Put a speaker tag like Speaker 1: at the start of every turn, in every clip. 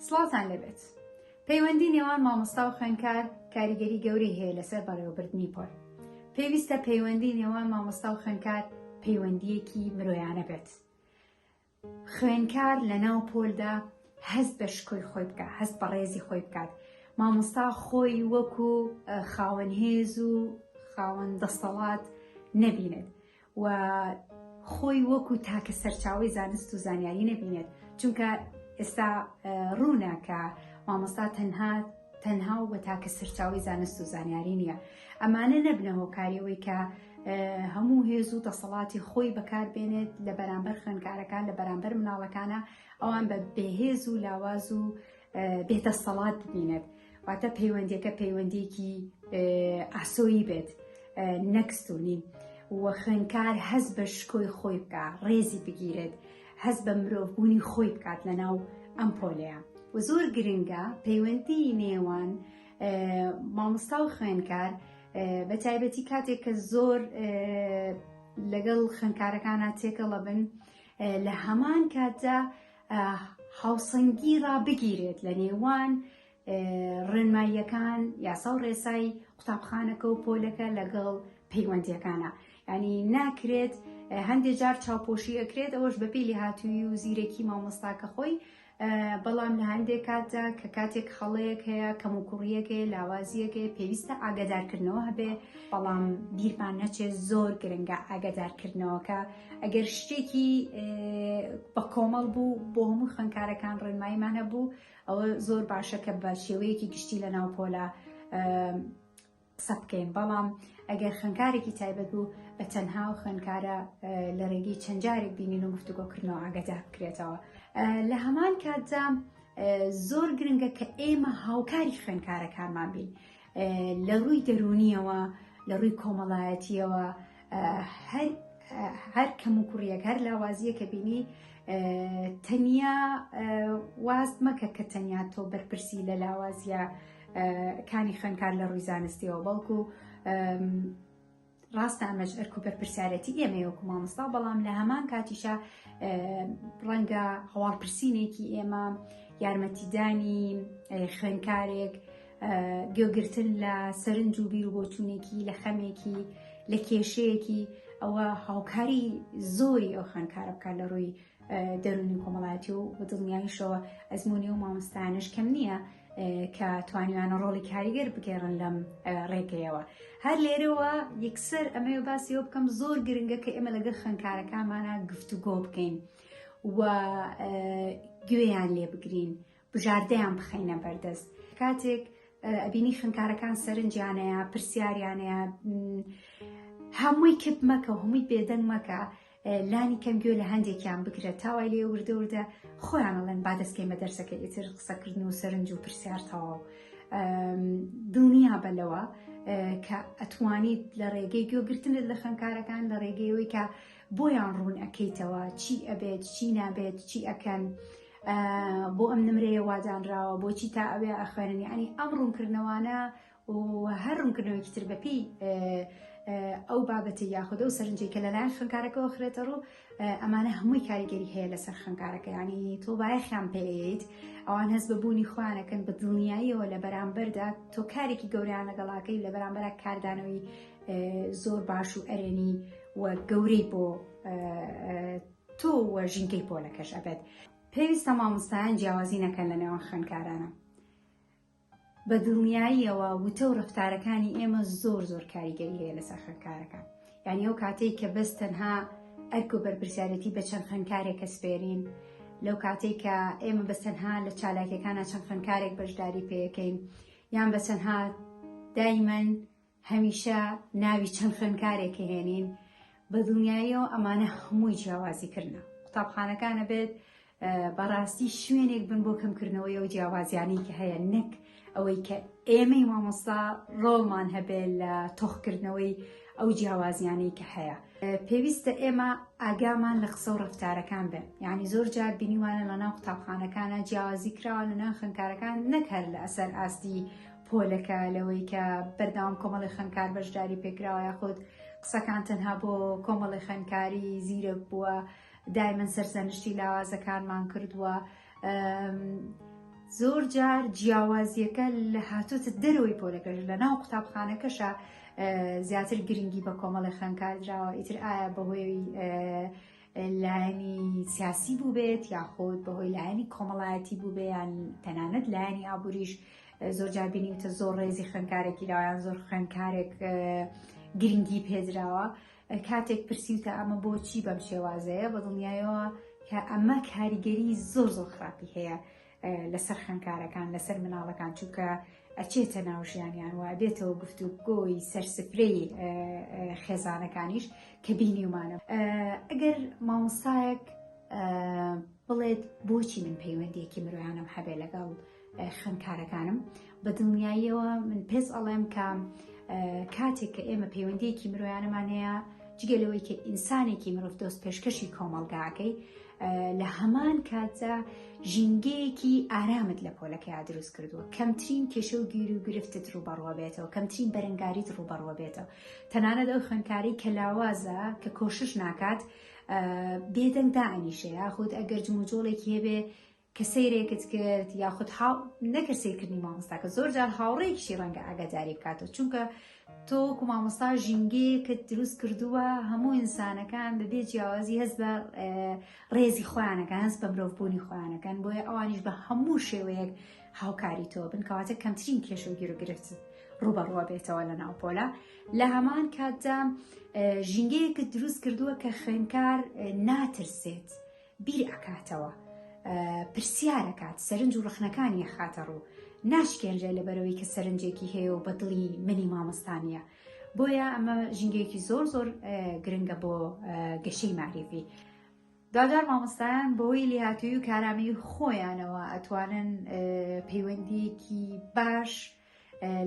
Speaker 1: سڵاوتان لێبێت پەیوەندی نێوان مامۆستا و خوێنکار کاریگەری گەورەی هەیە لەسەر بەڕێوەبردنی پۆل پێویستە پەیوەندی نێوان مامۆستا و خوێنکار پەیوەندیەکی مرۆیانە بێت خوێنکار لە ناو پۆلدا هەست بە شکۆی خۆی بکە هەست بە ڕێزی خۆی بکات مامۆستا خۆی وەکو خاوەن هێز و خاوەن دەستەڵات نەبینێت و خۆی وەکو تاکە سەرچاوی زانست و زانیاری نەبینێت چونکە ئێستا ڕوونە کە مامۆستا تەنها تەنها و بە تاکە سەرچاوی زانست و زانیاری نییە ئەمانە نەبنە هۆکاریەوەی کە هەموو هێز و دەسەڵاتی خۆی بەکاربێنێت لە بەرامبەر خوێنکارەکان لە بەرامبەر مناڵەکانە ئەوان بە بێهێز و لاواز و بێدەستەڵات ببینێت واتە پەیوەندیەکە پەیوەندێکی ئاسۆیی بێت نەکستونی و خوێنکار هەز بە شکۆی خۆی بکە ڕێزی بگیرێت هەز بە مرۆڤبوونی خۆی بکات لە ناو ئەم پۆلەیە و زۆر گرنگە پەیوەندی نێوان مامۆستا و خوێنکار بە تایبەتی کاتێک کە زۆر لەگەڵ خوێنکارەکانە تێکەڵە بن لە هەمان کاتدا هاوسەنگی ڕابگیرێت لە نێوان ڕێنماییەکان یاسا و ڕێسای قوتابخانەکە و پۆلەکە لەگەڵ پەیوەندیەکانە ینی ناکرێت هەندێک جار چاوپۆشی ئەکرێت ئەوەش بە پێلی هاتووی و زیرەکی مامۆستاکە خۆی بەڵام لە هەندێک کاتدا کە کاتێک خەڵەیەک هەیە کەم و کوڕیەکەی لاوازیەکەی پێویستە ئاگدارکردنەوە هەبێ بەڵام بیرمان نەچێت زۆر گرنگە ئاگدارکردنەوەکە ئەگەر شتێکی بە کۆمەڵ بوو بۆ هەموو خوێنکارەکان ڕێنماییمان هەبوو ئەوە زۆر باشە کە بە شێوەیەکی گشتی لە ناو پۆلا قسە بکەین بەڵام ئەگەر خوێنکارێکی تایبەت بوو بە تەنها و خوێنکارە لە ڕێگەی چەند جارێک بینین و گفتوگۆکردنەوە ئاگەدا بکرێتەوە لە هەمان کاتدا زۆر گرنگە کە ئێمە هاوکاری خوێنکارەکانمان بین لە ڕووی دەروونیەوە لە ڕووی کۆمەڵایەتیەوە هەر هەر کەم و کوڕیەک هەر لاوازیە کە بینی تەنیا واست مەکە کە تەنیا تۆ بەرپرسی لە لاوازیە کانی خوێنکار لە ڕووی زانستیەوە بەڵکو ڕاستە ئەمەش ئەرک و بەرپرسیارەتی ئێمەی وەکو مامۆستا بەڵام لە هەمان کاتیشە ڕەنگە هەواڵپرسینێکی ئێمە یارمەتیدانی خوێنکارێک گوێگرتن لە سەرنج و بیر و بۆچوونێکی لە خەمێکی لە کێشەیەکی ئەوە هاوکاری زۆری ئەو خوێنکارە بکات لە ڕووی دەروونی و کۆمەڵایەتی و بە دڵنیاییشەوە ئەزموونی ئەو مامۆستایانەش کەم نییە کە توانیویانە ڕۆڵی کاریگەر بگێڕن لەم ڕێگەیەوە هەر لێرەوە یەکسەر ئەمەوێ باسی ئەو بکەم زۆر گرنگە کە ئێمە لەگەڵ خوێندکارەکانمانە گفتوگۆ بکەین و گوێیان لێ بگرین بژاردەیان بخەینە بەردەست کاتێک ئەبینی خوێنکارەکان سەرنجیانەیە پرسیاریانەیە هەمووی کپ مەکە و هەمووی بێدەنگ مەکە لانی کەم گوێ لە هەندێکیان بگرە تاوای لێ وردە وردە خۆیان ئەڵێن با دەستکەی مە دەرسەکە ئیتر قسەکردن و سەرنج و پرسیار تەواو دڵنیا بەلەوە کە ئەتوانیت لە ڕێگەی گوێگرتنت لە خەنکارەکان لە ڕێگەیەوەی کە بۆیان ڕوون ئەەکەیتەوە چی ئەبێت چی نابێت چی ئەەکەن بۆ ئەم نمرەیە وادانراوە بۆچی تا ئەوێ ئەخوێنن یعنی ئەم ڕوونکردنەوانە و هەر ڕوونکردنەوەی تر بەپی ئەو بابەتی یاخودە و سەرنجی کە لەلایەن خوێنکارەکەەوە خرێتە ڕوو ئەمانە هەمووی کاریگەری هەیە لەسەر خوێنکارەکە ینی تۆ بایەخیان پێیت ئەوان هەست بەبوونی خوانەکەن بە دڵنیاییەوە لە بەرامبەردا تۆ کارێکی گەوریان لەگەڵاکەی لە بەرامبەر کاردانەوەی زۆر باش و ئەرێنی و گەورەی بۆ تۆ و ژینکەی پۆلەکەش ئەبێت پێویستە مامۆستایان جیاوازی نەکەن لە نێوان خوێنکارانە بە دڵنیاییەوە وتە و ڕفتارەکانی ئێمە زۆر زۆر کاریگەری هەیە لەسەر خوێنکارەکان یعنی ئەو کاتێک کە بەس تەنها ئەرک و بەرپرسیارەتی بە چەند خوێنکارێک کە سپێرین لەو کاتێک کە ئێمە بە تەنها لە چالاکیەکانە چەند خوێنکارێک بەشداری پێەکەین یان بە تەنها دایمەن هەمیشە ناوی چەند خوێندکارێک هێنین بە دڵنیاییەوە ئەمانە هەمووی جیاوازیکردنە قوتابخانەکانە بێت بەڕاستی شوێنێک بن بۆ کەمکردنەوەی ئەو جیاوازیانی کە هەیە نەک ئەوەی کە ئێمەی مامۆستا ڕۆڵمان هەبێت لە تۆخکردنەوەی ئەو جیاوازیانی کە هەیە پێویستە ئێمە ئاگامان لە قسە و ڕفتارەکان بێت یعنی زۆر جار بینیوانە لە ناو قوتابخانەکانە جیاوازی کراوە لە ناو خوێنکارەکان نەکەر لە ئەسەر ئاستی پۆلەکە لەوەی کە بەرداوام کۆمەڵی خوێنکار بەشداری پێکراوە یاخود قسەکان تەنها بۆ کۆمەڵی خوێنکاری زیرەک بووە دایمن سەرزەنشتی لاوازەکانمان کردووە زۆر جار جیاوازیەکە لە هاتوتە دەرەوەی پۆلەکەش لە ناو قوتابخانەکەشە زیاتر گرنگی بە کۆمەڵی خوێنکار دراوە ئیتر ئایا بەهۆی لایەنی سیاسی بووبێت یاخود بەهۆی لایەنی کۆمەڵایەتی بووبیان تەنانەت لایەنی ئابووریش زۆر جابینیتە زۆر ڕێزی خوێنکارێکی لاوان زۆر خوێنکارێک گرنگی پێدراوە کاتێک پرسیوتە ئەمە بۆچی بەم شێوازەیە بە دڵنیایەوە کە ئەمە کاریگەری زۆر زۆر خراپی هەیە لەسەر خوێنکارەکان لەسەر مناڵەکان چونکە ئەچێتە ناو ژیانیان وە دێتەوە گفت و گۆی سەرسپرەی خێزانەکانیش کە بینیمانە ئەگەر مامۆستایەک بڵێت بۆچی من پەیوەندیەکی مرۆیانم هەبێ لەگەڵ خوێنکارەکانم بە دڵنیاییەوە من پێس ئەڵێم کە کاتێک کە ئێمە پەیوەندیەکی مرۆیانەمان هەیە جگە لەوەی کە ئینسانێکی مرۆڤ دۆست پێشکەشی کۆمەلگاکەی لە هەمان کاتدا ژینگەیەکی ئارامت لە پۆلەکەیا دروست کردووە کەمترین کێشە و گیر و گرفتت ڕوبەڕوە بێتەوە کەمترین بەرەنگاریت ڕوبەڕوە بێتەوە تەنانەت ئەو خوێنکاری کە لاوازە کە کۆشش ناکات بێدەنگ داعینیشەیە خود ئەگەر جموجۆڵێکی هەبێ کە سەیرێکت کرد یاخود هاو نەکرد سیرکردنی مامۆستاکە زۆر جار هاوڕێکیشی ڕەنگە ئاگاداری بکاتەوە چونکە تۆ کو مامۆستا ژینگەیەکت دروست کردووە هەموو ئینسانەکان بەبێ جیاوازی هەست بە ڕێزی خۆیانەکان هەست بە مرۆڤبوونی خۆیانەکان بۆیە ئەوانیش بە هەموو شێوەیەک هاوکاری تۆ بن کەواتە کەمترین کێشە و گیرۆگرفت ڕوبەڕوە بێتەوە لە ناوپۆلا لە هەمان کاتدا ژینگەیەکت دروست کردووە کە خوێنکار ناترسێت. بیر ئەکاتەوە، پرسیار ئەکات، سەرنج و ڕەخنەکانی ئەخاتە ڕوو، ناشکێنرێ لەبەرئەوەی کە سەرنجێکی هەیە و بە دڵی منی مامۆستا نییە. بۆیە ئەمە ژینگەیەکی زۆر زۆر گرنگە بۆ گەشەی مەعریفی. دوجار مامۆستایان بەهۆی لێهاتوویی و کارامەیی خۆیانەوە ئەتوانن پەیوەندییەکی باش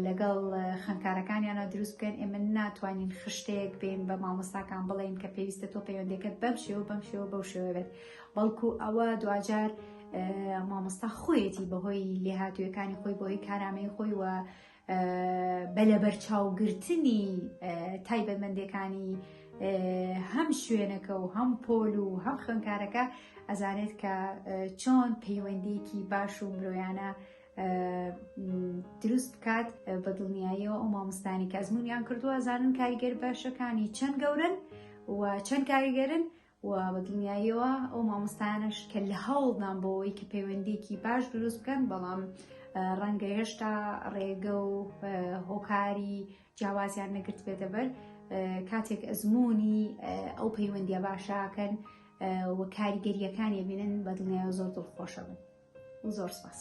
Speaker 1: لەگەڵ خوێندکارەکانیانە دروست بکەن ئێمە ناتوانین خشتەیەک بین بە مامۆستاکان بڵێین کە پێویستە تۆ پەیوەندەکەت بەم شێوە بەم شێوە بەو شێوە بێت بەڵکو ئەوە دواجار مامۆستا خۆیەتی بەهۆی لێهاتوویەکانی خۆی بۆی کارامەی خۆی وە بەلەبەرچاوگرتنی تایبەتمەندەکانی هەم شوێنەکە و هەم پۆل و هەم خوێنکارەکە ئەزانێت کە چۆن پەیوەندیکی باش و مرۆیانە دروست بکات بە دڵنیاییەوە ئەو مامۆستانی کە ئەزمونیان کردووە زانن کاریگەر باشەکانی چەند گەورن و چەند کاریگەرن و بە دڵنیاییەوە ئەو مامۆستانش کە لە هەوڵدان بۆەوەی کە پەیوەندێکی باش دروست بکەن بەڵام ڕەنگە هێشتا ڕێگە و هۆکاری جیاوازیان نەگرت بێتە بەر کاتێک ئەزمموی ئەو پەیوەندیە باشاکەن و کاریگەریەکانی بینن بە دڵنیای زۆر دڵخۆشە بن زۆر سپاس.